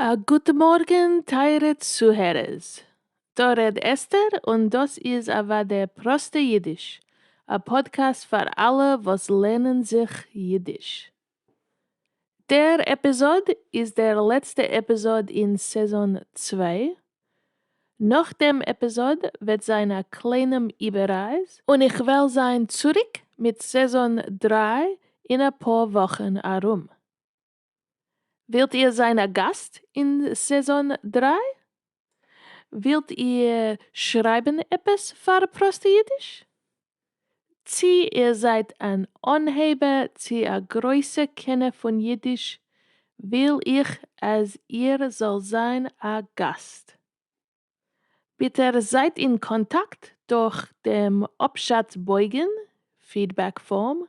א גוט מארגן טייערע צוהערערס, דא רעד אסתר און דאס איז אוודאי פראסטע אידיש, א פאדקעסט פאר אלע וואס לערנען זיך אידיש. דער עפיזאד איז דער לעצטע עפיזאד אין סעזאן צוויי, נאך דעם עפיזאד וועט זיין א קליינעם איבעררייס, און איך וועל זיין צוריק מיט סעזאן דרײַ אין אפאר וואכן ארום. ווילט איר זיין א גאסט אין סעזאן דרײַ? ווילט איר שרייבן עפעס פאר פראסטע אידיש? צי איר זייט אן אנהייבער צי א גרויסע קענער פון אידיש וויל איך אז איר זאל זיין א גאסט. ביטע זייט אין קאנטאקט דורך דעם אפשאץ בויגן, פידבעק פארם.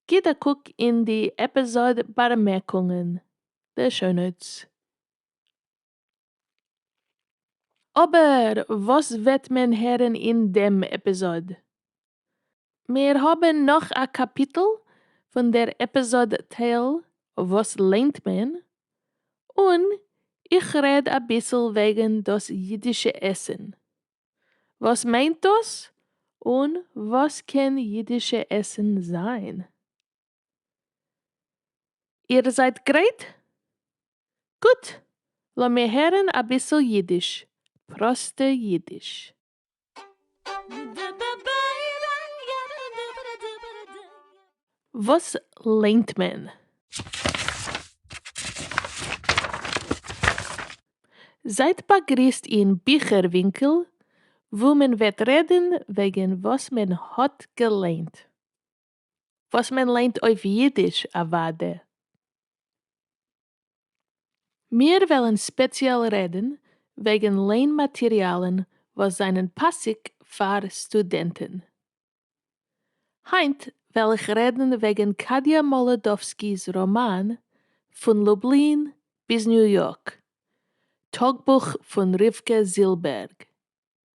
גיט א קוק אין די עפיזאד באמערקונגען, די שאו נאוטס. אבער וואס וועט מען הערן אין דעם עפיזאד? מיר האבן נאך א קאפיטל פון דער עפיזאד טייל וואס ליינט מען, און איך רעד אביסל וועגן דאס אידישע עסן. וואס מיינט דאס? און וואס קען אידישע עסן זיין? איר זײַט גרײט? גוט, לאָמיר הערן אַ ביסל ייִדיש, פּראָסטע ייִדיש. וואס ליינט מען? זייט באגריסט אין ביכער ווינקל וואו מען וועט רעדן וועגן וואס מען האט געליינט. וואס מען ליינט אויף אידיש אוואדע. מיר וועלן ספעציעל רעדן וועגן ליין מאטריאלן וואס זענען פאסיג פאר סטודענטן. היינט וועל איך רעדן וועגן קאדיא מאלודאווסקי'ס ראמאן פון לובלין ביז ניו יארק, טאגבוך פון רבקה זילבערג.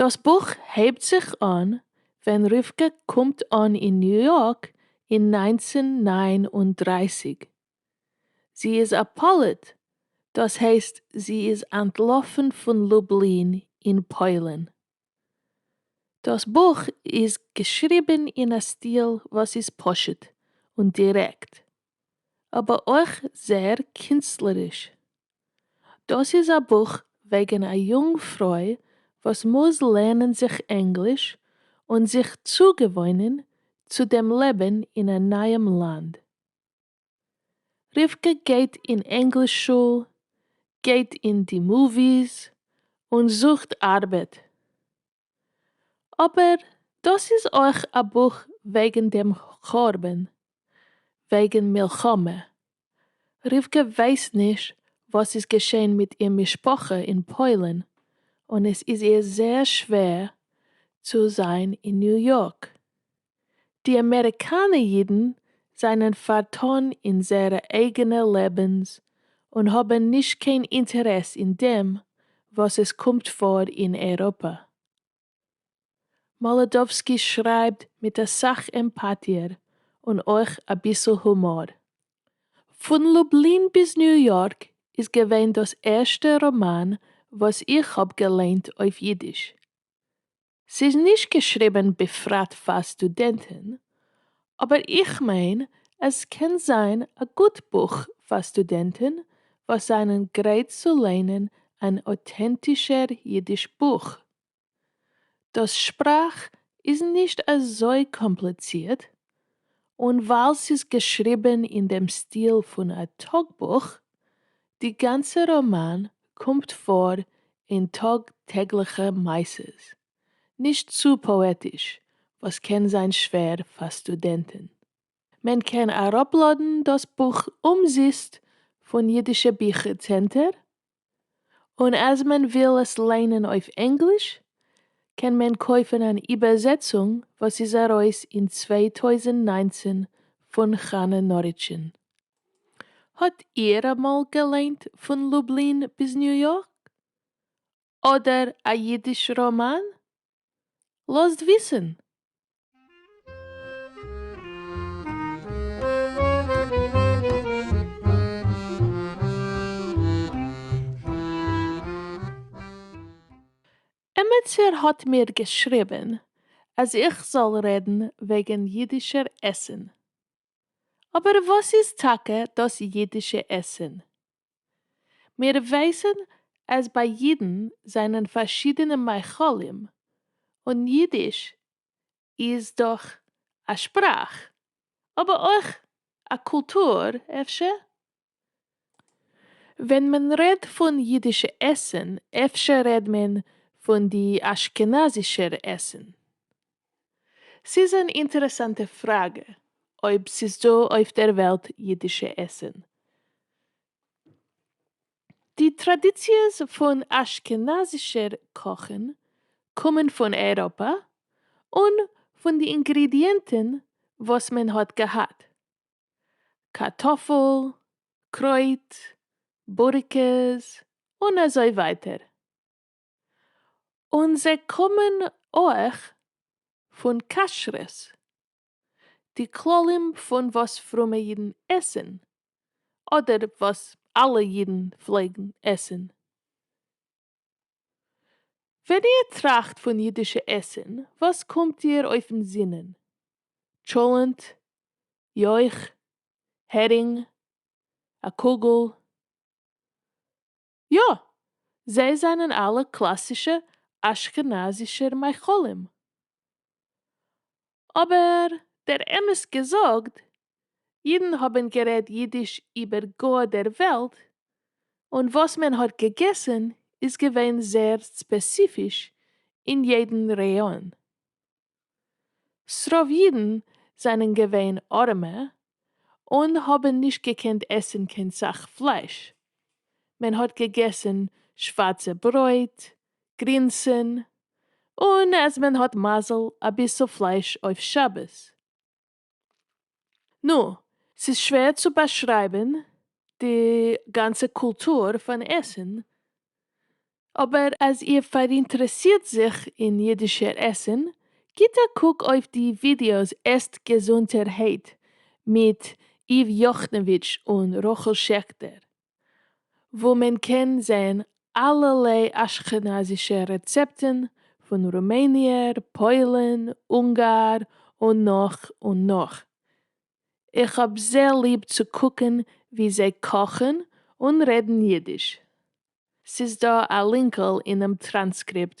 דאס בוך הייבט זיך אן ווען רבקה קומט אן אין ניו יארק אין נײַנצן נײַן און דרײַסיק. זי איז א פליט, דאס הייסט זי איז אנטלאפן פון לובלין אין פוילן. דאס בוך איז געשריבן אין א סטיל וואס איז פשוט און דירעקט. אבער אויך זייער קינסטלעריש. דאס איז א בוך וועגן א יונג פרוי וואס מוז לערנען זיך ענגליש און זיך צוגעוואוינען צו דעם לעבן אין א נייעם לאנד. רבקה גייט אין ענגליש שול, גייט אין די מאוויס, און זוכט ארבעט. אבער דאס איז אויך א בוך וועגן דעם חורבן, וועגן מלחמה, רבקה ווייסט נישט וואס איז געשען מיט איר משפחה אין פוילן און עס איז איר זייער שווער צו זיין אין ניו יארק, די אמעריקאנע אידן זענען פארטאן אין זייערע אייגענע לעבנס און האבן נישט קיין אינטערעס אין דעם וואס עס קומט פאר אין אייראפע. מאלעדאווסקי שרייבט מיט אסאך עמפאטיער און אויך אביסל הומאר. פון לובלין ביז ניו יארק איז געווען דאס ערשטע ראמאן וואס איך האב געליינט אויף אידיש. ס'איז נישט געשריבען בפרט פאר סטודענטען, אבער איך מיין אז ס'קען זיין א גוט בוך פאר סטודענטען וואס זענען גרייט צו ליינען אן אוטענטישער אידיש בוך. דאס שפראך איז נישט אזוי קאמפליצירט, און ווייל ס'איז געשריבען אין דעם סטיל פון א טאגבוך, די גאנצע ראמאן קומט פאר אין טאג טעגליכע מעשות, נישט צו פאעטיש וואס קען זיין שווער פאר סטודענטן. מען קען אראפלאדן דאס בוך אומזיסט פון אידישע ביכער צענטער, און אז מען וויל עס ליינען אויף ענגליש קען מען קויפן אן איבערזעצונג וואס איז ארויס אין צוויי טויזנט נײַנצן פון חנה נאריטשין. האט איהר אמאל געליינט פון לובלין ביז ניו יארק? אדער א אידיש ראמאן? לאזט וויסען. עמעצער האט מיר געשריבען אז איך זאל רעדן וועגען אידישער עסען. אבער וואס איז טאקע דאס אידישע עסן? מיר ווייסן אז ביי אידן זענען פארשידענע מאכלים, און אידיש איז דאך א שפראך, אבער אויך א קולטור אפשר? ווען מען רעד פון אידישע עסען אפשר רעד מען פון די אשכנזישער עסען? ס'איז אן אינטערעסאנטע פראגע אויב ס'איז דא אויף דער וועלט אידישע עסען. די טראדיציעס פון אשכנזישער קאכען קומען פון אייראפע און פון די אינגרידיענטען וואס מען האט געהאט. קארטאפל, קרויט, בוריקעס, און אזוי ווייטער. און זיי קומען אויך פון כשרות, די כללים פון וואס פרומע אידן עסן, אדער וואס אלע אידן פלעגן עסן, ווען איר טראכט פון אידישע עסן וואס קומט דיר אויפן זינען? טשולענט? יויך? הערינג? א קוגל? יא! זיי זענען אלע קלאסישע אשכנזישער מאכלים. אבער דער אמת געזאגט אידן האבן גערעדט אידיש איבער גאר דער וועלט, און וואס מען האט געגעסן איז געווען זייער ספעסיפיש אין יעדן ראיאן. ס'רוב אידן זענען געווען ארעמע און האבן נישט געקענט עסן קיין סאך פלייש, מען האט געגעסן שווארצע ברויט, גרינסען, און אז מען האט מזל אביסל פלייש אויף שבת. נו, ס'איז שווער צו באשרייבן די גאנצע קולטור פון עסן, אבער אז איר פאראינטערעסירט זיך אין אידישער עסן, גיט א קוק אויף די ווידיאוס עסט געזונטערהייט מיט איוו יאכנאוויטש און רחל שעכטער, וואו מען קען זען אלערליי אשכנזישע רעצעפטן פון רומעניער, פוילן, אונגאר און נאך און נאך. איך האב זעהר ליב צו קוקן ווי זיי קאכן און רעדן אידיש. ס'איז דא א לינקל אינעם טראנסקריפט.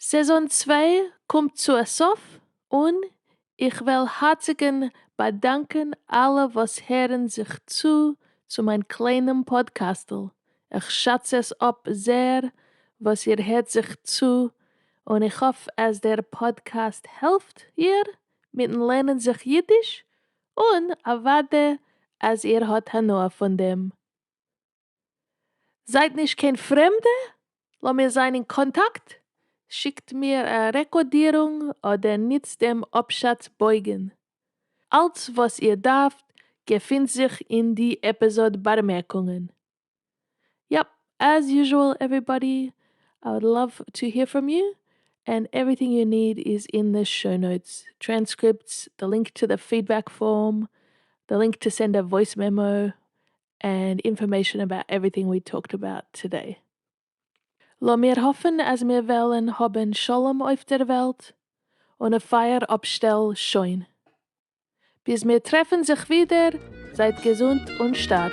סעזאן צוויי קומט צו א סוף און איך וועל הארציגען באדאנקען אלע וואס הערן זיך צו צו מיין קליינעם פאדקעסטל, איך שאץ עס אפ זעהר וואס איר הערט זיך צו און איך האף אז דער פאדקעסט העלפט איר מיטן לערנען זיך אידיש און אוודאי אז איר האט הנאה פון דעם. זייט נישט קיין פרעמדע, לאמיר זיין אין קאנטאקט, שיקט מיר א רעקארדירונג אדער ניצט דעם אפשאץ בויגן. אלץ וואס איר דארפט געפינט זיך אין די עפיזאד בארמערקונגען. יאפ, עז יוזשועל עוועריבאדי, איי וואלד לאוו טו העיר פראם יו, ענד עווריטינג יו ניד איז אין די שאו נאוטס, טרענסקריפטס, די לינק טו די פידבעק פארם, די לינק טו סענד א וואויס מעמאו, ענד אינפארמעישאן אבאוט עווריטינג ווי טאלקד אבאוט טודעי. לאמיר האפן אז מיר וועלן האבן שלום אויף דער וועלט און א פייער אפשטעל שוין. ביז מיר טרעפן זיך ווידער, זייט געזונט און שטארק.